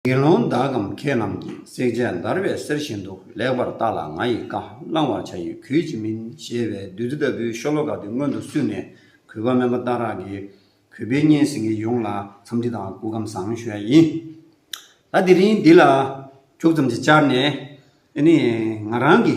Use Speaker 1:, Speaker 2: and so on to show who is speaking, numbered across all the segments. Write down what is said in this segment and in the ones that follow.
Speaker 1: དགེ་སློང་དག་གམ་ཁྱེད་རྣམས་ཀྱིས་བསྲེག་བྱའི་འདར་བའི་གསེར་བཞིན་དུ་ལེགས་པར་བརྟགས་ལ་ང་ཡིས་བཀའ་བླང་བར་བྱ་ཡི་གུས་ཅི་མིན་ཞེས་པའི་བདུད་རྩི་ལྟ་བུའི་ཤོ་ལོ་ཀ་དེ་མངོན་དུ་བསུས་ནས་གུས་པ་དམན་པ་རྟ་རག་གིས་གུས་པས་སྙན་ཟིན་གྱིས་ཡོངས་ལ་འཚམས་འདྲི་དང་སྐུ་ཁམས་བཟང་ཞོལ་ཡིན། ད་དེ་རིང་འདི་ལ་ཁྱུག་ཙམ་ཅིག་བཅར་ནས་ནི་ང་རང་གི།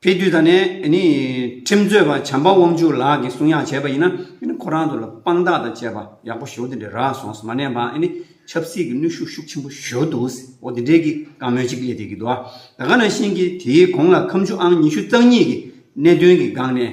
Speaker 1: དེ་དུས་ད་ནི་ཁྲིམས་རྩོད་པ་བྱམས་པ་དབང་ཕྱུག་ལགས་ཀྱིས་གསུང་ཡག་བྱས་པ་ཡིན་ན་ཁོ་རང་ཚོ་ལ་དཔང་རྟགས་དང་བཅས་པ་ཡག་པོ་ཞོ་དེ་འདྲས་རག་སོང་མ་ནས་པང་ཆབ་སྲིད་ཀྱི་ནུས་ཤུགས་ཤུགས་ཆེན་པོ་ཞོ་འདུག་ཨོ་དེ་འདྲས་ཀྱིས་བཀའ་མོལ་ཅིག་སླེ་དེ་གི་དུ་ཨ་ད་ག་ན་ཤེས་ཀྱི་དེའི་གོང་ལ་ཁམས་ཆུ་ཨང་ཉི་ཤུ་རྩ་གཉིས་ཀྱི་གནད་དོན་གྱི་སྒང་ནས་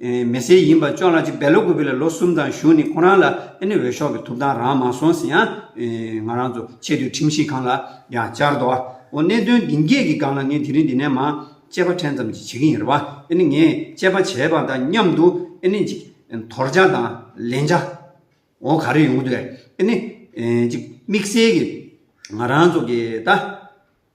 Speaker 1: མེ་སེལ་ཡིན་པ་ཅོ་ལགས་ཀྱིས་འབལ་ལོ་དགུ་པའི་ལ་ལོ་གསུམ་དང་བཞུགས་ནས་ཁོ་རང་ལ་ཨེ་ནི་འོས་ཤོག་གི་ཐུབ་ཐང་རང་མ་སོང་ཟིན་ཡང། ང་རང་ཚོ་ཆེས་མཐོའི་ཁྲིམས་ཞིབ་ཁང་ལ་ཡང་བཅར་འདུག་ཨ་འོ་གནད་དོན་འདི་འགས་ཀྱི་སྒང་ལ་ངས་དེ་རིང་འདི་ནས་མང་དཔྱད་པ་ཕྲན་ཙམ་ཅིག་བྱེད་ཀྱི་ཡིན་རེད་བ་ཨེ་ནི་ངས་དཔྱད་པ་བྱས་པ་དང་མཉམ་དུ་ཨེ་ནི་ཅིག་དོར་བྱ་དང་ལེན་བྱ་འོ་ག་རེ་ཡོང་གི་འདུག་ཨེ་ནི་ཅིག་དམིགས་བསལ་གྱིས་ང་རང་ཚོ་གིས་ད།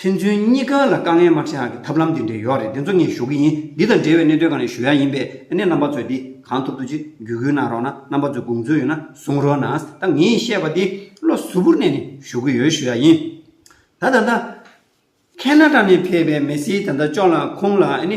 Speaker 1: ཕན་ཚུན་གཉིས་ཀ་ལ་དཀའ་ངལ་མ་ཕྲད་ཨང་གི་ཐབས་ལམ་འདི་འདྲའི་ཡོད་རེད་འདི་ཚོ་ངས་ཞུ་གི་ཡིན་འདི་དང་འབྲེལ་བའི་གནད་དོན་གང་རེད་ཞུ་ཡ་ཡིན་པས་ཨ་ནེ་རྣམ་པ་ཚོས་འདི་གང་ཐུབ་ཐུབ་ཅིག་བརྒྱུད་སྐུལ་གནང་རོགས་ན་རྣམ་པ་ཚོས་དགོངས་ཚུལ་ཡོད་ན་གསུང་རོགས་ན་ད་ངས་བཤད་པ་འདི་བློ་གཟུ་བོར་གནས་ནས་ཞུ་གི་ཡོད་ཞུ་ཡ་ཡིན་ད་ད་ད། ཁནྜ་ཏྲ་ནས་ཕེབས་པའི་མེ་སི་ད་ད་ཅོག་ལ་ཁོང་ལ་ཨ་ནེ།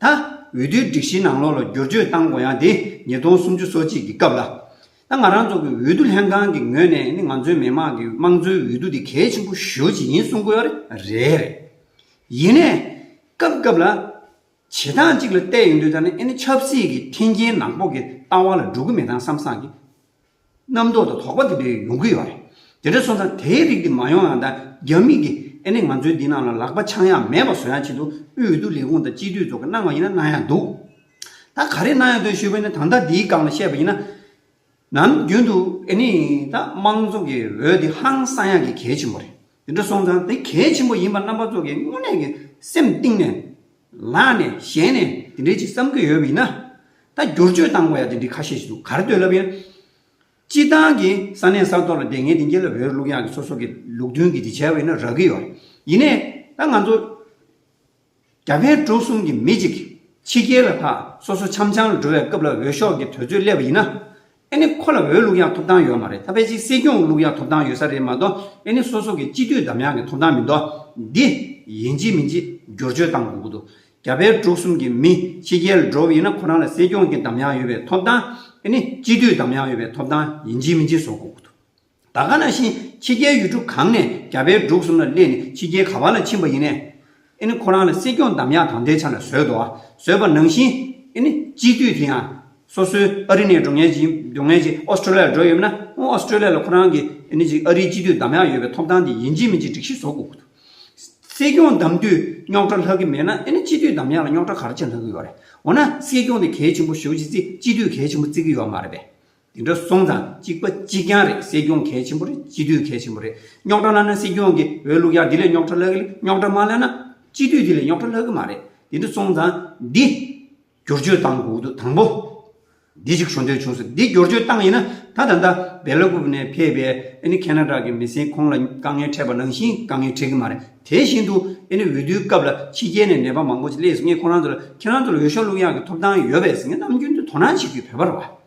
Speaker 1: ད་འོས་བསྡུའི་སྒྲིག་གཞིའི་ནང་ལོགས་ལ་བསྒྱུར་བཅོས་བཏང་དགོས་ཡང་དེ་ཉིས་སྟོང་སུམ་ཅུ་སོ་གཅིག་གི་སྐབས་ལ། ད་ང་རང་ཚོ་གི་འོས་བསྡུ་ལྷན་ཁང་གི་ངོས་ནས་ནི་ང་ཚོའི་མི་དམངས་ཀྱི་དམངས་གཙོའི་འོས་བསྡུ་དེ་གལ་ཆེན་པོ་ཞུ་བྱེད་ཡིན་གསུངས་དགོས་པ་རེད་རེད། ཡིན་ནས། སྐབས་སྐབས་ལ། བྱེད་སྟངས་གཅིག་ལ་བལྟས་ཡོང་དུས་ད་ནི་ཨེ་ནི་ཆབ་སྲིད་ཀྱི་མཐིང་རྒྱན་ནག་པོ་གི་ལྟ་བ་ལ་འགྲོ་གི་མེད་དང་བསམ་བསམ་གྱི། རྣམ་རྟོག་དང་དོགས་པ་དེ་འདྲ་ཡོང་གི་ཡོད་རེད། དེ་འདྲ་སོང་ཙང་དེའི་རིགས་དེ་མ་ཡོང་ཡང་དང་རྒྱ་མིས་ཀྱིས་ཨེ་ནི་ང་ཚོའི་འདི་རྣམས་ལ་ལག་པ་འཆང་ཡ་མེད་པ་བཟོ་ཡང་ཆེད་དུ་དབུས་འོས་བསྡུ་ལས་ཁུངས་དང་སྤྱི་འཐུས་ཚོགས་ཀྱིས་གནང་བ་ཡིན་ན་གནང་ཡ་འདུག་ད་ག་རེ་གནང་ཡ་འདུག་ཞུས་པ་ཡིན་ན་ད་ལྟ་འདིའི་སྒང་ལ་བཤད་པ་ཡིན་ན། ནམ་རྒྱུན་དུ་ཨེ་ནི་ད་དམངས་ཚོགས་ཀྱི་འོས་དེ་ཧང་སང་ཡག་གི་གལ་ཆེན་པོ་རེད། དེ་འདྲ་སོང་ཙང་དེ་གལ་ཆེན་པོ་ཡིན་པ་རྣམ་པ་ཚོ་གིས་དངོས་གནས་ཀྱི་སེམས་གཏིང་ནས་ལངས་ནས་གཞན་ནས་དེ་འདྲའི་ཅིག་བསམ་གྱི་ཡོད་པ་ཡིན་ན། ད་བསྒྱུར་བཅོས་བཏང་དགོས་ཡ་དེ་འདྲའི་ཁ་ཤས་ཤིག་འདུག་གར་སྡོད་ལབ་ཡོད། སྤྱིར་བཏང་གི་ས་གནས་ས་ཐོག་ལ་དེ་ངེས་དེ་འགྱེལ་ལ་བོད་ལུགས་ཡང་གི་སོ་སོ་གི་ལུགས་མཐུན་གྱི་དེ་བྱས་པ་ཡིན་ན་རག་གི་ཡོད། ཡིན་ནས་ད་ང་ཚོ། རྒྱ་བལ་འབྲུག་གསུམ་གྱི་མི་གཅིག་ཕྱི་རྒྱལ་ལ་ཐག་སོ་སོ་འཆམ་འཆམ་འགྲོ་བའི་སྐབས་ལ་འོས་ཤོག་གི་དོལ་ཚོད་སླེབས་པ་ཡིན་ན། ཨེ་ནི་ཁོ་ལ་འོས་བླུགས་ཡང་ཐོབ་ཐང་ཡོད་མ་རེད་ད་བལ་སྤྱིའི་སྲིད་སྐྱོང་བླུགས་ཡང་ཐོབ་ཐང་ཡོད་ས་རེད་མ་གཏོགས་ཨེ་ནི་སོ་སོ་གི་སྤྱི་འཐུས་འདམ་ཡང་གི་ཐོབ་ཐང་མི་འདུག་འདི་ཡིན་ཅི་མིན་ཅི་བསྒྱུར་བཅོས་གཏང་དགོས་ཀྱི་འདུག་རྒྱ་བལ་འབྲུག་གསུམ་གྱི་མི་ཕྱི་རྒྱལ་འགྲོ་བ་ཡིན་ན་ཁོ་རང་ལ་སྲིད་སྐྱོང་གི་འདམ་ཡང་ཡོད་པའི་ཐོབ་ཐང་ཨེ་ནི་སྤྱི་འཐུས་འདམ་ཡང་ཡོད་པའི་ཐོབ་ཐང་ཡིན་ཅི་མིན་ཅི་བཟོ་དགོས་ཀྱི་འདུག། ད་ག་ན་བཞིན་ཕྱི་རྒྱལ་ཡུལ་གྲུ་གང་ནས་རྒྱ་བལ་འབྲུག་གསུམ་ལ་སླེབས་ནས་ཕྱི་རྒྱལ་ག་བ་ལ་ཕྱིན་པ་ཡིན། ཨེ་ནི་ཁོ་རང་ལ་སྲིད་སྐྱོང་འདམ་ཡག་དང་དེའི་ཆ་ལ་བཟོས་འདུག་ཨ་བཟོས་པ་ནང་བཞིན་ཨེ་ནི་སྤྱི་འཐུས་དེ་ཡང་སོ་སོའི་ཨ་རི་ནས་འགྲོ་ངེས་ཀྱི་འགྲོ་ངེས་ཀྱི་ཨོ་སྟྲོ་ལི་ཡར་འགྲོ་ཡོད་མེད་ན་ཨོ་ཨོ་སྟྲོ་ལི་ཡ་ལ་ཁོ་རང་གི་ཨེ་ནི་ཨ་རིའི་སྤྱི་འཐུས་འདམ་ཡག་ཡོད་པའི་ཐོབ་ཐང་དེ་ཡིན་གྱི་མིན་གྱི་སྒྲིག་གཞི་བཟོ་དགོས་ཀྱི་འདུག་སྲིད་སྐྱོང་འདམ་དུས་རྙོག་དྲ་ལྷག་གི་མེད་ན་ཨེ་ནི་སྤྱི་འཐུས་འདམ་ཡག་ལ་རྙོག་དྲ་ག་རེ་ཅི་ལྷག་གི་ཡོད་རེད་འོ་ན་སྲིད་སྐྱོང་དེ་གལ་ཆེན་པོ་ཞུ་གྱི་རྩིས་སྤྱི་འཐུས་གལ་ཆེན་པོ་རྩི་གི་ཡོད་མ་རེད་པས་དེ་འདྲ་སོང་ཙང་གཅིག་པ་གཅིག་རྐྱང་རེད་སྲིད་སྐྱོང་གལ་ཆེན་པོ་རེད་སྤྱི་འཐུས་གལ་ཆེན་པོ་རེད་རྙོག་གྲ་བསླ་ན་སྲིད་སྐྱོང་གི་འོས་བླུག་ཡག་དེ་ལས་རྙོག་གྲ་བསླ་གི་ལས་རྙོག་གྲ་མ་བསླ་ན་སྤྱི་འཐུས་དེ་ལས་རྙོག་གྲ་བསླ་གི་མ་རེད་དེ་འདྲ་སོང་ཙང་འདི་བསྒྱུར་བཅོས་བཏང་དགོས་དུས་དང་པོ་འདི་ཞིག་ཞུ་འདོད་བྱུང་སོང་འདི་བསྒྱུར་བཅོས་བཏང་ཡིན་ན་ད་ད་ལྟ་སྦེ་ལ་ཀུབ་ནས་ཕེབས་པའི་ཨ་ནི་ཁེ་ན་ར་གི་མི་སེར་ཁོང་ལ་དཀའ་ངལ་འཕྲད་པ་ནང་བཞིན་དཀའ་ངལ་འཕྲད་གི་མ་རེད་དེ་བཞིན་དུ་ཨ་ནི་འོས་བསྡུའི་སྐབས་ལ་ཕྱི་རྒྱལ་ནས་ནད་པ་མང་པོ་ཞིག་སླེབས་སོང་ངས་ཁོང་རང་ཚོ་ལ་ཁྱེད་རང་ཚོ་ལ་འོས་ཤོག་བླུག་ཡག་གི་ཐོབ་ཐང་ཡོད་པས་ངས་ནམ་རྒྱུན་དུ་དོ་སྣང་བྱེད་དུས་བོད་པ་ར་བ།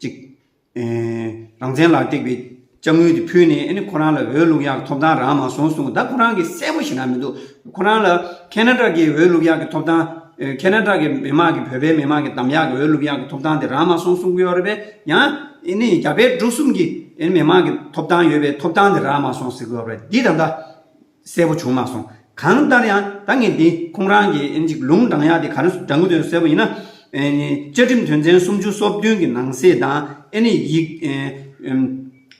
Speaker 1: ཅིག། རང་བཙན་ལ་བཏེགས་པའི་དཔྱ་དངུལ་དེ་ཕུལ་ནས་ཨེ་ནི་ཁོ་རང་ལ་འོས་བླུགས་ཡག་གི་ཐོབ་ཐང་རག་མ་སོང་གསུངས་ད་ཁོ་རང་གི་གསལ་པོ་ཞིག་ན་མི་འདུག་ཁོ་རང་ལ་ཁེ་ན་ཏྲག་གི་འོས་བླུགས་ཡག་གི་ཐོབ་ཐང། ཁེ་ན་ཏྲག་གི་མི་དམངས་ཀྱི་བོད་པའི་མི་དམངས་ཀྱི་དམ་ཡག་གི་འོས་བླུགས་ཡག་གི་ཐོབ་ཐང་དེ་རག་མ་སོང་གསུངས་ཀྱི་ཡོད་རེད་པས་ཡང་ཨེ་ནི་རྒྱ་བལ་འབྲུག་གསུམ་གྱི་ཨེ་ནི་མི་དམངས་ཀྱི་ཐོབ་ཐང་ཡོད་པའི་ཐོབ་ཐང་དེ་རག་མ་སོང་ཟེར་གྱི་ཡོད་རེད་འདི་ད་ལྟ་གསལ་པོ་བྱུང་མ་སོང། གང་ལྟར་ཡང་ད་ངས་འདི་ཁོང་རང་གི་ཨེ་ཅིག་ལུང་དྲང་ཡག་དེ་ག་རེ་སུ་དྲང་གི་འདུག་གསལ་པོ་ཡིན་ན། བཅའ་ཁྲིམས་དོན་ཚན་སུམ་ཅུ་སོ་བདུན་གྱི་ནང་གསེས་དང་ཨེ་ནི་ཡིག།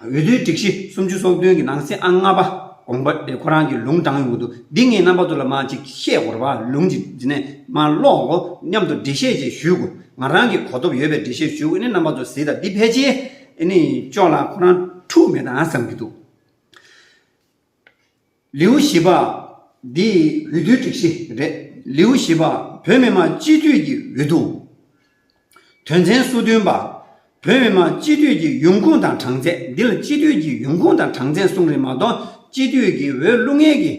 Speaker 1: འོས་བསྡུའི་སྒྲིག་གཞི་སུམ་ཅུ་སོ་བདུན་གྱི་ནང་གསེས་ཨང་ལྔ་པ་དགོངས་པ་དེ་ཁོ་རང་གི་ལུང་དྲང་ཡོང་གི་འདུག་འདི་ངས་རྣམ་པ་ཚོ་ལ་མ་ཅིག་བཤད་དགོས་ར་བ་ལུང་ཅིག་འདི་ནས་མ་ཀློག་གོ་སྙམ་དུ་འགྲེལ་བཤད་ཅིག་ཞུས་གོ་ང་རང་གིས་གོ་ཐོབ་ཡོད་པའི་འགྲེལ་བཤད་ཞུས་གོ་ཨེ་ནི་རྣམ་པ་ཚོ་གཟིགས་དང་འདི་ཕལ་ཆེར་ཨེ་ནི་ཅོག་ལ་ཁོ་རང་འཁྲུག་མེད་དང་བསམ་གྱི་འདུག། ལེའུ་བཞི་པ། འདི་འོས་བསྡུའི་སྒྲིག་གཞི་རེད། ལེའུ་བཞི་པ། བོད་མི་མང་སྤྱི་འཐུས་ཀྱི་འོས་བསྡུ། དོན་ཚན་སོ་བདུན་པ། བོད་མི་མང་སྤྱི་འཐུས་ཀྱི་ཡོང་ཁུངས་དང་གྲངས་ཚད། འདི་ལ་སྤྱི་འཐུས་ཀྱི་ཡོང་ཁུངས་དང་གྲངས་ཚད་གསུངས་རིགས་མ་གཏོགས་སྤྱི་འཐུས་ཀྱི་འོས་བླུག་ངེས་ཀྱི་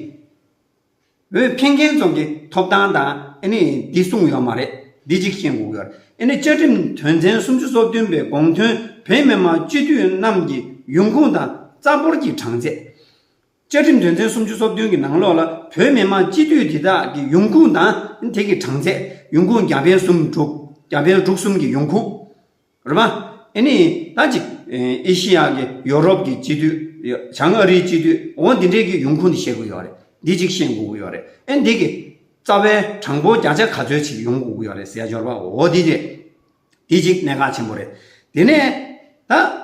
Speaker 1: འོས་འཕེན་མཁན་ཚོ་གི་ཐོབ་ཐང་དང་ཨེ་ནི་འདི་སྲུང་ཡོད་མ་རེད་འདི་གཅིག་ཤེས་འགུག་ཡོད་ཨེ་ནི་བཅའ་ཁྲིམས་དོན་ཚན་སུམ་ཅུ་སོ་བདུན་པའི་དགོངས་དོན་བོད་མི་མང་སྤྱི་འཐུས་རྣམས་ཀྱི་ཡོང་ཁུངས་དང་རྩ་འབོར་གྱི་གྲངས་ཚད། བཅའ་ཁྲིམས་དོན་ཚན་སུམ་ཅུ་སོ་བདུན་གྱི་ནང་ལོགས་ལ་བོད་མི་མང་སྤྱི་འཐུས་དེ་དག་གི་ཡོང་ཁུངས་དང་ཨེ་ནི་དེ་གི་གྲངས་ཚད་ཡོང་ཁུངས་བརྒྱ་འཕེན་སུམ་དྲུག་བརྒྱ་འཕེན་དྲུག་གསུམ་གྱི་ཡོང་ཁུངས། རེད་མ། ཨེ་ནི། ད་ཅིག། ཨེ་ཤི་ཡཱ་གི་ཡོ་རོབ་ཀྱི་སྤྱི་འཐུས། བྱང་ཨ་རིའི་སྤྱི་འཐུས། འོ་འདི་འདྲས་ཀྱི་ཡོང་ཁུངས་འདི་ཤེས་དགོས་ཀྱི་ཡོད་རེད། འདི་ཅིག་ཤེས་དགོས་ཀྱི་ཡོད་རེད། ཨེ་འདི་གི། རྩ་བའི་གྲངས་འབོར་བརྒྱ་ཆ་ག་ཚོད་ཅིག་ཡོང་དགོས་ཀྱི་ཡོད་རེད་ཟེར་ཡ་འབྱོར་པ་འོ་འདི་རེད། འདི་ཅིག་གནད་འགག་ཆེན་པོ་རེད། དེ་ནས། ད། འོས་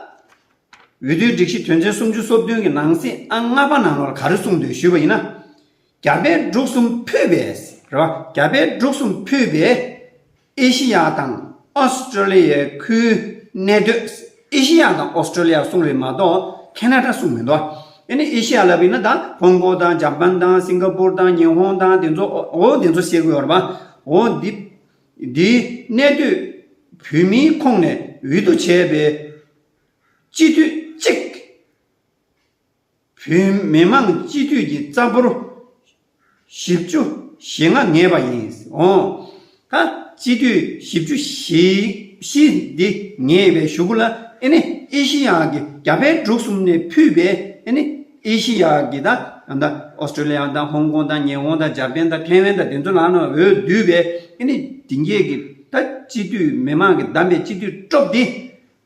Speaker 1: བསྡུའི་སྒྲིག་གཞི་དོན་ཚན་སུམ་ཅུ་སོ་བདུན་གྱི་ནང་གསེས་ཨང་ལྔ་པ་ནང་ལོར་ག་རེ་གསུངས་འདུག་ཞུས་པ་ཡིན་ན། རྒྱ་བལ་འབྲུག་གསུམ་ཕུད་པས། རེད་མ། རྒྱ་བལ་འབྲུག་གསུམ་ཕུད་པས། ཨེ་ཤེ་ཡ་དང་ཨོ་སི་ཀྲོ་ལི་ཡའི་ཁུལ་གནས་སྡོད། ཨེ་ཤེ་ཡ་དང་ཨོ་སི་ཀྲོ་ལི་ཡ་གསུངས་རེད་མ་གཏོགས་ཁེ་ན་ཏྲ་གསུངས་མི་འདུག་ཨེ་ནས་ཨེ་ཤེ་ཡ་ལབ་ཡིན་ན་ད་ཧོང་ཀོ་དང་ཇབ་པན་དང་སིང་ག་པུར་དང་ཉི་ཧོང་དང་དེ་ཚོ་འོ་འདི་ཚོ་བཤད་དགོས་ཡོད་རེད་པ། འོ་འདི་འདི་གནས་སྡོད་བོད་མིའི་ཁོངས་ནས་འོས་བསྡུ་བྱས་པའི་སྤྱི་འཐུས་གཅིག། བོད་མི་མང་སྤྱི་འཐུས་ཀྱི་རྩ་འབོར་བཞི་བཅུ་ཞེ་ལྔ་ངེས་པ་ཡིན་འོང། ད་སྤྱི་འཐུས་བཞི་བཅུ་ཞེ་བཞི་འདི་ངེས་པའི་གཞུག་གུ་ལ་ཨེ་ནི་ཨེ་ཤི་ཡ་གི་རྒྱ་བལ་འབྲུག་གསུམ་ནས་ཕུད་པའི་ཨེ་ནི་ཨེ་ཤི་ཡ་གི་ད་ཨ་མདའ་ཨོ་སི་ཀྲོ་ལི་ཡ་དང་ཧོང་ཀོང་དང་ཉི་ཧོང་དང་འཇར་པན་དང་ཐེ་ཝན་དང་དེ་ཚོ་ལ་ནི་འོས་བསྡུས་པའི་ཨེ་ནི་དེ་འགྱེད་གི་ད་སྤྱི་འཐུས་མི་མང་གི་བདམས་པའི་སྤྱི་འཐུས་སྐྲོབ་འདི་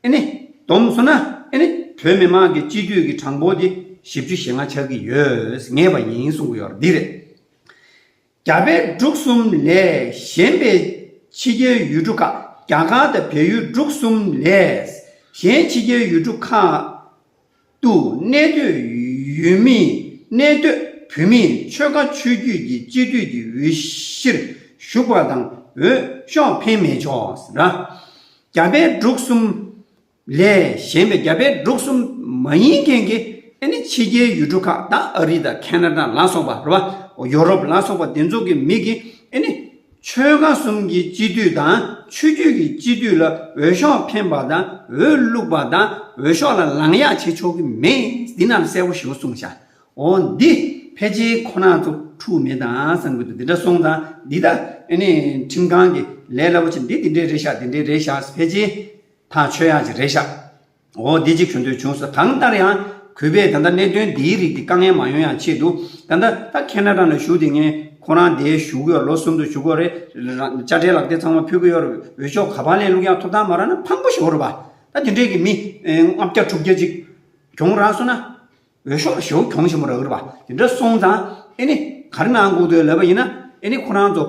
Speaker 1: ཨེ་ནི། སྡོམ་སོང་ན་ཨེ་ནི། བོད་མི་དམངས་ཀྱི་སྤྱི་འཐུས་ཀྱི་གྲངས་འབོར་དེ་བཞི་བཅུ་ཞེ་ལྔ་ཆགས་ཀྱི་ཡོད་ངེས་པ་ཡིན་གསུང་གི་ཡོད་པ་འདི་རེད། རྒྱ་བལ་འབྲུག་གསུམ་ལས་གཞན་པའི་ཕྱི་རྒྱལ་ཡུལ་གྲུ་ཁག་རྒྱ་གར་དང་བལ་ཡུལ་འབྲུག་གསུམ་ལས་གཞན་ཕྱི་རྒྱལ་ཡུལ་གྲུ་ཁག་ཏུ་གནས་སྡོད་ཡུལ་མིས་གནས་སྡོད་བོད་མིའི་ཆོལ་ཁ་ཆོས་བརྒྱུད་ཀྱི་སྤྱི་འཐུས་ཀྱི་འོས་གཞིར་ཞུགས་པ་དང་འོས་ཤོག་འཕེན་མི་ཆོག་ལ། རྒྱ་བལ་འབྲུག་གསུམ་ལས་གཞན་པའི་རྒྱ་བལ་འབྲུག་གསུམ་མ་ཡིན་མཁན་གྱི་ཕྱི་རྒྱལ་ཡུལ་གྲུ་ཁག་དང་ཨ་རི་དང་ཁ་ན་ཏྲ་ལ་སོགས་པ། ཡོ་རོབ་ལ་སོགས་པ་འདི་ཚོ་གི་མི་གིས། ཆོལ་ཁ་གསུམ་གྱི་སྤྱི་འཐུས་དང་ཆོས་བརྒྱུད་ཀྱི་སྤྱི་འཐུས་ལ་འོས་ཤོག་འཕེན་པ་དང་འོས་བླུགས་པ་དང་འོས་ཤོག་ལ་ལངས་ཡག་བྱེད་ཆོག་གི་མེད་འདི་རྣམས་གསལ་བོ་ཞུ་གསུངས་བྱ། འོ་འདི་ཕལ་ཆེར་ཁོ་ན་ཚོ་འཁྲུག་མེད་དང་བསམ་གི་འདུག་འདི་འདྲ་སོང་ཙང་འདི་ད་ནི་ཁྲིམས་ཁང་གི་ལས་སླ་པོ་ཆེ་འདི་འདི་འདྲའི་རེ་བཞག་འདི་འདྲའི་རེ་བཞག་ཕལ་ཆེར་ད་ཆོས་ཡག་ཅིག་རེ་བཞག། འོ་བདེ་གཅིག་ཞུ་འདོད་བྱུང་ཟེར་གང་ལྟར་ཡང། གུས་པས་ད་ལྟ་གནད་དོན་འདིའི་རིགས་ཀྱི་དཀའ་ངལ་མ་ཡོང་ཡང་ཆེད་དུ། ད་ལྟ་ད་ཁེ་ན་ར་ན་བཞུགས་དེ་ངས་ཁོ་རང་འདའི་བཞུགས་གོས་ལོ་གསུམ་དུ་བཞུགས་གོས་རེ་རང་དཔྱ་ཁྲལ་ལག་དེབ་ཚང་མ་ཕུལ་གི་ཡོད་རེད་འོས་ཤོག་ག་པར་ལེན་ལུགས་ཡང་ཐོབ་ཐང་མ་རག་ན་ཕངས་པོ་ཞུ་རོགས་པ། ད་དེ་འདྲས་ཀྱི་མི་ལྔ་བརྒྱ་དྲུག་བརྒྱ་ཅིག་གྱོང་རག་སོང་ན། འོས་ཤོག་བཞི་གྱོང་ཆེན་པོ་རག་གི་རེད་པ་དེ་འདྲ་སོང་ཙང་ཨེ་ནི་ག་རེ་གནང་དགོས་དོན་ལབ་པ་ཡིན་ན་ཨེ་ནི་ཁོ་རང་ཚོ་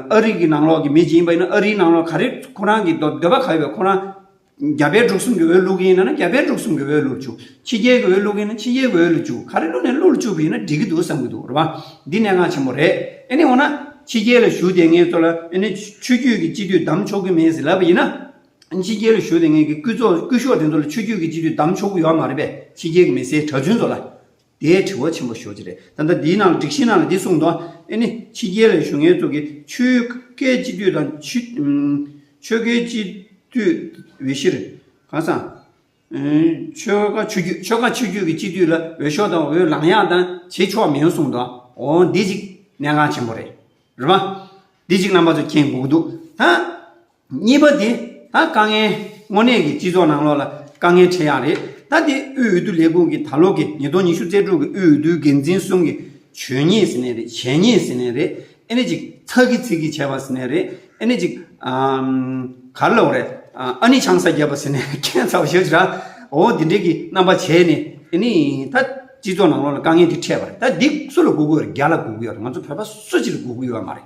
Speaker 1: ཨ་རི་གི་ནང་ལོག་གི་མི་ཅིག་ཡིན་པ་ཡིན་ན་ཨ་རིའི་ནང་ལོག་ག་རེ་ཁོ་རང་གི་འདོད་པ་ག་ཡོད་པ་ཁོ་རང་རྒྱ་བལ་འབྲུག་གསུམ་གྱི་འོས་བླུག་གི་ཡིན་ན་རྒྱ་བལ་འབྲུག་གསུམ་གྱི་འོས་བླུག་བཅུག་ཕྱི་རྒྱལ་གྱི་འོས་བླུག་གི་ཡིན་ན་ཕྱི་རྒྱལ་གྱི་འོས་བླུག་བཅུག་ག་རེ་བླུག་ནས་བླུག་ལ་བཅུག་གི་ཡིན་ན་འགྲིག་གི་འདུག་བསམ་གྱི་འདུག་རེད་པ་འདི་གནད་འགག་ཆེན་པོ་རེད་ཨེ་ནི་འོ་ན་ཕྱི་རྒྱལ་ལ་བཞུགས་ཏེ་ངེད་ཚོ་ལ་ཨེ་ནི་ཆོས་རྒྱུད་ཀྱི་སྤྱི་འཐུས་བདམས་ཆོག་གི་མེད་ཟེར་ལབ་པ་ཡིན་ན། ཕྱི་རྒྱལ་ལ་ཞུགས་ཏེ་ངེད་ཀྱི་སྐུ་ཚོགས་སྐུ་ཤོག་དེ་ཚོ་ལ་ཆོས་རྒྱུད་ཀྱི་སྤྱི་འཐུས་གདམ་ཆོག་གི་ཡོད་མ་རེད་པས་ཕྱི་རྒྱལ་གྱི་མི་སེར་གྲྭ་བཙུན་ཚོ་ལ་དེའི་དྲི་བ་ཆེན་པོ་ཞུ་རྒྱུ་རེད་ད་ལྟ་འདིའི་ནང་ལ་སྒྲིག་གཞིའི་ནང་ལ་འདི་གསུངས་འདུག་ཨེ་ནི་ཕྱི་རྒྱལ་ལ་ཞུགས་མཁན་ཚོ་གི་ཆོས་ཁའི་སྤྱི་འཐུས་དང་ཆོས་ཁའི་སྤྱི་འཐུས་འོས་གཞིར་གང་སང། ཆོས་ཁ་ཆོས་རྒྱུད་ཆོས་ཁ་ཆོས་རྒྱུད་ཀྱི་སྤྱི་འཐུས་ལ་འོས་ཤོག་དང་འོས་ལངས་ཡག་དང་བྱེད་ཆོག་མི་ཡོང་གསུངས་འདུག་འོ་འདི་གཅིག་གནད་འགངས་ཆེན་པོ་རེད། རེད་མ། འདི་གཅིག་རྣམ་པ་ཚོ་མཁྱེན་དགོས་ཀྱི་འདུག་ད། གཉིས་པ་དེ་ད་དཀའ་ངལ་དངོས་གནས་ཀྱི་སྤྱི་ཚོགས་ནང་ལོགས་ལ་དཀའ་ངལ་འཕྲད་ཡག་རེད་ད་དེ་དབུས་འོས་བསྡུ་ལས་ཁུངས་ཀྱི་ད་ལོ་གི་ཉིས་སྟོང་ཉི་ཤུ་རྩེ་དྲུག་གི་དབུས་འོས་བསྡུའི་འགན་འཛིན་གསུམ་གྱི་ཆོས་ཉིད་ཟེར་ནས་རེད་བྱས་ཉིད་ཟེར་ནས་རེད་ཨེ་ནས་ཅིག་ཚག་གི་ཚིག་གིས་བྱས་པ་ཟེར་ནས་རེད་ཨེ་ནས་ཅིག་གར་ལོག་རེད་ཨ་ནི་ཆང་ས་རྒྱབ་པ་ཟེར་ནས་ཁྱད་མཚར་བ་ཞིག་རེད་འོ་འདི་འདྲས་ཀྱི་རྣམ་པ་བྱས་ནས་ཨེ་ནས་ད་སྤྱི་ཚོགས་ནང་ལོགས་ལ་དཀའ་ངལ་འདི་འཕྲད་པ་རེད་ད་འདི་སུ་ལ་སྒུག་གི་ཡོད་རེད་རྒྱ་ལ་སྒུག་གི་ཡོད་རེད་ང་ཚོ་བོད་པ་སུ་གཅིག་ལ་སྒུག་གི་ཡོད་མ་རེད།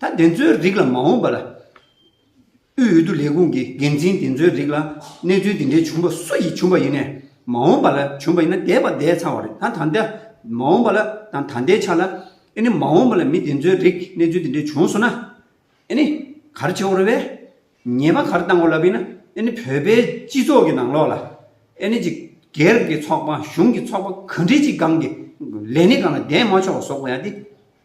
Speaker 1: ད་བདེན་རྫུན་རིགས་ལ་མ་འོངས་པར། དབུས་འོས་བསྡུ་ལས་ཁུངས་ཀྱི་འགན་འཛིན་བདེན་རྫུན་རིགས་ལ་གནས་ཚུལ་འདི་འདྲའི་བྱུང་པ་སུ་ཡིས་བྱུང་པ་ཡིན་ནས་མ་འོངས་པ་ལ་བྱུང་པ་ཡིན་ན་འདས་པ་འདས་ཚར་བ་རེད་ད་ད་ལྟ་མ་འོངས་པ་ལ་དང་ད་ལྟའི་ཆ་ལ་ཨེ་ནི་མ་འོངས་པ་ལ་མི་བདེན་རྫུན་རིགས་གནས་ཚུལ་འདི་འདྲའི་བྱུང་སོང་ན་ཨེ་ནི་གར་བྱེད་འོར་བས་ཉེས་པ་གར་བཏང་འོར་ལབ་ཡིན་ན་ཨེ་ནི་བོད་པའི་སྤྱི་ཚོགས་ཀྱི་ནང་ལོགས་ལ་ཨེ་ནི་ཅིག་སྒེར་གྱི་ཚོགས་པ་གཞུང་གི་ཚོགས་པ་གང་འདྲའི་ཅིག་སྒང་གི་ལས་ནི་གང་ལ་བདེན་མ་ཆོག་བ་ཟོག་པ་ཡ་དེ།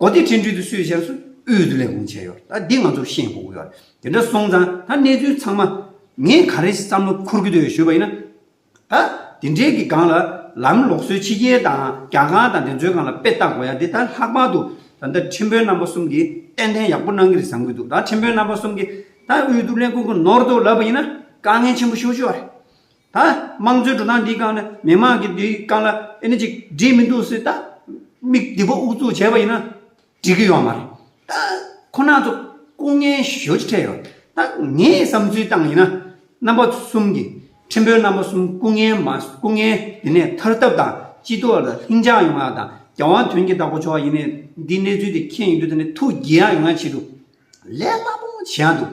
Speaker 1: གོ་བདེ་འཕྲིན་བསྒྲིགས་དུ་སུས་བཞག་སུས་དབུལ་དུ་ལས་ཁུངས་བྱས་ཡོད་རེད་ད་འདི་ང་ཚོར་ཤེས་དགོས་ཡོད་རེད་དེ་འདྲ་སོང་ཙང་ད་གནས་ཚུལ་ཚང་མ་ངས་ག་རེ་བསམ་བློ་འཁོར་གྱི་འདུག་ཞུས་པ་ཡིན་ན། ད་དེ་འདྲའི་གི་སྒང་ལ་ལམ་ལོག་སྲོལ་ཕྱི་རྒྱལ་དང་རྒྱ་སྒང་དང་དེ་ཚོའི་སྒང་ལ་དཔེ་བལྟ་དགོས་ཡ་འདི་ད་ལྷག་པར་དུ་ད་འདི་འཕྲིན་བོན་རྣམ་པ་གསུམ་གྱིས་ཏན་ཏན་ཡག་པོ་གནང་གི་རེད་བསམ་གྱི་འདུག་ད་འཕྲིན་བོན་རྣམ་པ་གསུམ་གྱིས་ད་དབུལ་དུ་ལས་ཁུངས་ཀྱི་ནོར་དོ་ལབ་པ་ཡིན་ན་དཀའ་ངལ་ཆེན་པོ་ཤོར་ཤོར་བ་རེད། ད་དམངས་གཙོའི་འགྲོ་སྟངས་འདིའི་སྒང་ནས་མི་དམངས་ཀྱི་འདིའི་སྒང་ལ་ཨེ་ནི་ཅིག་འགྲིག་མི་འདུག་སེ་ད། མིག་བདེ་པོ་དབུ་བཙུགས་བྱས་པ་ཡིན་ན་འགྲིག་གི་ཡོད་མ་རེད། ད་ཁོ་ན་ཚོ་སྐུ་ངལ་ཞོད་ཅིག་འཕྲད་ཡོད། ད་ངས་བསམ་ཚུལ་བཏང་ཡིན་ན། རྣམ་པ་གསུམ་གྱི་ཁྲིམས་དཔོན་རྣམ་པ་གསུམ་སྐུ་ངལ་མ་སྐུ་ངལ་འདི་ནས་ཐར་ཐབས་དང་སྤྱི་ཚོགས་ལ་ལྷིང་འཇགས་ཡོང་ཡག་དང་རྒྱ་དབང་དོན་གྱི་བདག་པོ་ཆོག་ཡིན་ནས་འདིའི་གནས་ཚུལ་དེ་མཁྱེན་ཡོད་དུས་ད་ནས་ཐུགས་དགྱེས་ཡག་ཡོང་ཡག་བྱེད་དུ་ལས་སླ་པོ་བྱེད་ཡག་འདུག།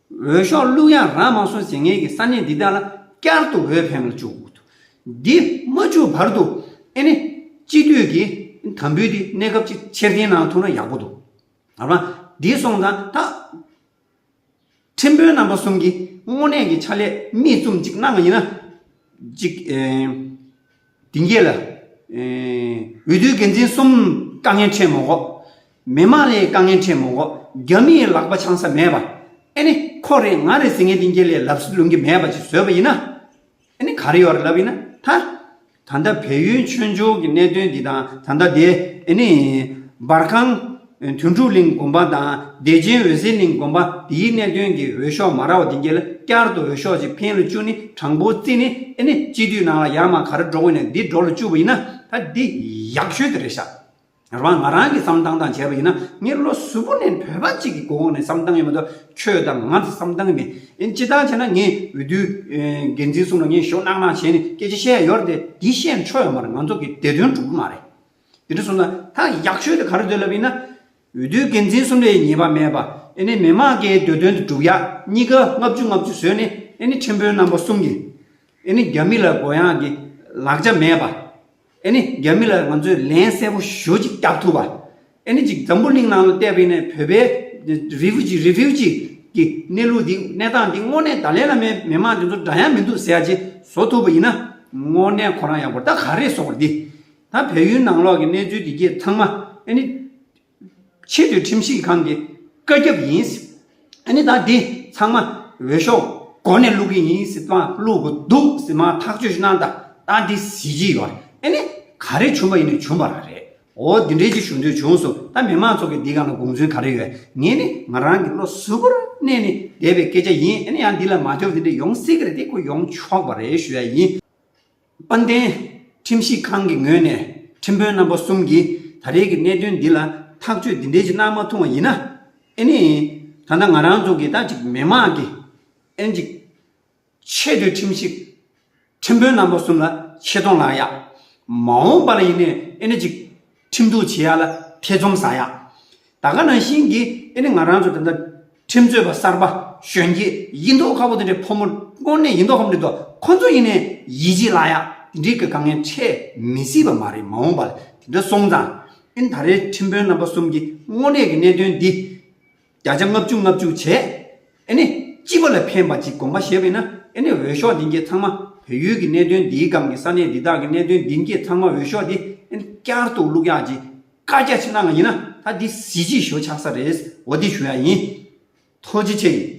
Speaker 1: འོས་ཤོག་བླུག་ཡང་རང་མ་སོང་ཟིན་ངེས་ཀྱི་ས་གནས་འདི་དག་ལ་བསྐྱར་དུ་འོས་འཕེན་ལ་འཇུག། འདི་མ་འཇུག་བར་དུ་ཨེ་ནི་སྤྱི་འཐུས་ཀྱི་དམ་འབུལ་འདི་གནས་སྐབས་ཅིག་ཕྱིར་འཐེན་གནང་ཐུབ་ན་ཡག་པོ་འདུག་ད་བར་འདི་སོང་ཙང་ད། ཁྲིམས་དཔོན་རྣམ་པ་གསུམ་གྱིས་དངོས་གནས་ཀྱི་ཕྱག་ལས་མིས་བཙུམ་ཅིག་གནང་གི་ཡིན་ན་ཅིག། དེ་རྗེས་ལ། འོས་བསྡུའི་འགན་འཛིན་གསུམ་དཀའ་ངལ་འཕྲད་མ་གོ། མི་མང་ལས་དཀའ་ངལ་འཕྲད་མ་གོ། རྒྱ་མིའི་ལག་པ་འཆང་ས་མེད་པ། ཨེ་ནི་ཁོ་རེ་ང་རེ་ཟེར་མཁན་དེ་འགྱེལ་ལས་ལབ་ས་ལུང་གི་མེད་པ་ཅིག་བཟོས་པ་ཡིན་ན། ཨེ་ནི་ག་རེ་ཡོད་རེ་ལབ་ཡིན་ན་ད། ད་ལྟ་བལ་ཡུལ་མཆོད་འཇོག་གི་གནད་དོན་འདི་དང་ད་ལྟ་དེ་ཨེ་ནི། འབར་ཁང། དུས་འཁྲུག་གླིང་དགོན་པ་དང་བདེ་ཆེན་འོད་ཟེར་གླིང་དགོན་པ་འདིའི་གནད་དོན་གྱི་འོས་ཤོག་མ་ར་བ་དེ་འགྱེལ་བསྐྱར་དུ་འོས་ཤོག་ཅིག་འཕེན་ལོ་བཅུ་ནི་དྲང་པོ་རྩི་ནི་ཨེ་ནི་སྤྱི་འཐུས་ནང་ལ་ཡར་མ་གར་འགྲོ་དགོས་ནས་འདི་འགྲོ་ལོ་བཅུ་བ་ཡིན་ན་ད་འདི་ཡག་ཤོས་དེ་རེད་ཤག་ར་བ་ང་རང་གིས་བསམ་སྟངས་དང་བྱས་པ་ཡིན་ན་མྱིར་ལོ་གཟུ་བོ་ནས་བོད་པ་གཅིག་གི་གོང་ནས་བསམ་སྟངས་ཡོད་མ་གཏོགས་ཁྱོད་དང་ང་ཚོ་བསམ་སྟངས་མེད་སྤྱི་སྟངས་བྱས་ན་ངས་འོས་བསྡུ་འགན་འཛིན་གསུམ་ལ་ངས་ཞོ་གནག་གནག་བྱས་ནས་སྐད་ཆ་བཤད་ཡོད་རེད་དེ་བཤད་ཆོག་ཡོད་མ་རེད་ང་ཚོ་གི་བདེ་དོན་གྲུབ་ཀྱི་མ་རེད། དེ་ནས་བཟུང་ན་ད་ཡག་ཤོས་དེ་ག་རེ་འདོད་ལབ་ཡིན་ན། འོས་བསྡུའི་འགན་འཛིན་གསུམ་ལས་ཉེས་པ་མེད་པ་ཨེ་ནི་མི་མང་གི་འདོད་དོན་དེ་སྒྲུབ་ཡག་གཉིས་ཀ་ལྔ་བཅུ་ལྔ་བཅུ་བཟོས་ནས་ཨེ་ནི་ཁྲིམས་དཔོན་རྣམ་པ་གསུམ་གྱི་ཨེ་ནི་རྒྱ་མི་ལ་མགོ་ཡངས་ཀྱི་ལག་ཆ་མེད་པ་ཨེ་ནི་རྒྱ་མི་ལ་ང་ཚོས་ལན་གསལ་པོ་ཞུ་ཅིག་རྒྱག་ཐུབ་པ་ཨེ་ནི་ཅིག་འཛམ་བུ་གླིང་ནང་ལ་བལྟས་པ་ཡིན་ན་བོད་པའི Refugee Refugee གི་གནས་ལུགས་འདི་གནས་སྟངས་འདི་དངོས་གནས་ད་ལན་ལ་མའི་མི་མང་དེ་ཚོ་འདྲ་ཡང་མི་འདུག་ཟེར་ཡག་ཅིག་བཟོ་ཐུབ་པ་ཡིན་ན་དངོས་གནས་ཁོ་རང་ཡག་པོ་ད་ག་རེ་བཟོ་བར་འདི་ད་བལ་ཡུལ་ནང་ལོགས་ཀྱི་གནས་ཚུལ་འདི་གྱིས་ཚང་མ་ཨེ་ནི། ཕྱི་དུས་ཁྲིམས་ཞིབ་ཁང་གི་བཀའ་ཁྱབ་ཡིན་སྲིད། ཨེ་ནི་ད་འདི་ཚང་མ་འོས་ཤོག་སྒོ་ནས་བླུག་གི་ཡིན་སྲིད་པ་བླུག་གི་འདུག་སྲིད་མ་ཐག་ཆོས་གནང་ད་ད་འདི་གཟིགས་ཀྱི་ཡོད་རེད་ཨེ་ནི། ག་རེ་བྱུང་བ་ཡིན་ནི་བྱུང་བ་ར་རེད་འོ་འདི་འདྲའི་ཅིག་བྱུང་དུས་བྱུང་སོང་ད་མི་མང་ཚོགས་ཀྱི་འདི་ག་ན་དགོངས་ཚུལ་ག་རེ་ཡོད་ངས་ནི་ང་རང་གི་བློ་གཟུ་བོར་གནས་ནས་བསྡད་པའི་སྐད་ཆ་ཡིན་ཨེ་ནི་ཡང་འདི་ལ་མ་ལྟོས་པ་འདི་འདྲ་ཡོང་སྲིད་གི་རེད་དེ་ཁོ་ཡོང་ཆོག་པ་རེད་ཞུ་ཡ་ཡིན། དཔལ་ལྡན། ཁྲིམས་ཞིབ་ཁང་གི་ངོས་ནས་ཁྲིམས་དཔོན་རྣམ་པ་གསུམ་གྱིས་ད་རེས་ཀྱི་གནད་དོན་འདི་ལ་ཐག་གཅོད་འདི་འདྲའི་ཆེ་གནང་མ་ཐུང་བ་ཡིན་ན། ཨེ་ནི། ད་ལྟ་ང་རང་ཚོ་གི་ད་ཅིག་མི་དམངས་ཀྱི། ཨེན་ཅིག། ཆེས་མཐོའི་ཁྲིམས་ཞིབ། ཁྲིམས་དཔོན་རྣམ་པ་གསུམ་ལ་ཆེ་མཐོང་ལངས་ཡག། མ་འོངས་པ་ལ་ཡིན་ནའི་ཨེ་ནི་ཅིག། ཁྲིམས་གཏུག་བྱེད་ཡག་ལ་ཐེ་ཚོམ་ཟ་ཡག། ད་ག་ནང་བཞིན་གྱི་ཨེ་ནི་ང་རང་ཚོ་ད་ལྟ་ཁྲིམས་རྩོད་པ་གསར་པ་གཞོན་སྐྱེས་ཡིན་མདོག་ཁ་བོ་དེ་འདྲའི་ཕོ་མོ་དངོས་གནས་ཡིན་མདོག་ཁ་མི་འདུག་ཁོ་ཚོ་ཡིན་ནའི་ཡིད་ཆེས་ལ་ཡག་དེ་འདྲའི་གི་དཀའ་ངལ་འཕྲད་མི་སྲིད་པ་མ་རེད་མ་འོངས་པ་ལ་དེ་འདྲ་སོང་ཙང་ཨེ་ནི་ད་རེའི་ཁྲིམས་དཔོན་རྣམ་པ་གསུམ་གྱི་དངོས་གནས་ཀྱི་གནད་དོན་འདི་བརྒྱ་ཆ་ལྔ་བཅུ་ལྔ་བཅུ་བྱས། ཨེ་ནི། སྤྱི་པ་ལ་ཕན་པ་ཅིག་དགོངས་པ་བཞེས་པས་ན་ཨེ་ནི་འོས་ཤོག་འདི་འགྱེད་ཚང་མ་བོད་ཡུལ་གྱི་གནད་དོན་འདིའི་སྒང་གི་ས་གནས་འདི་དག་གི་གནད་དོན་འདི་འགྱེད་ཚང་མ་འོས་ཤོག་འདི་ཨེ་ནི་བསྐྱར་དུ་བླུག་ཡག་ཅིག་བཀའ་རྒྱ་ཆེ་གནང་ཡིན་ན་ད་འདི་གཟི་བརྗིད་ཞོ་ཆགས་ས་རེད་འོ་འདི་ཞུ་ཡག་ཡིན། ཐོ་ཇི་ཆེ་ཡིན།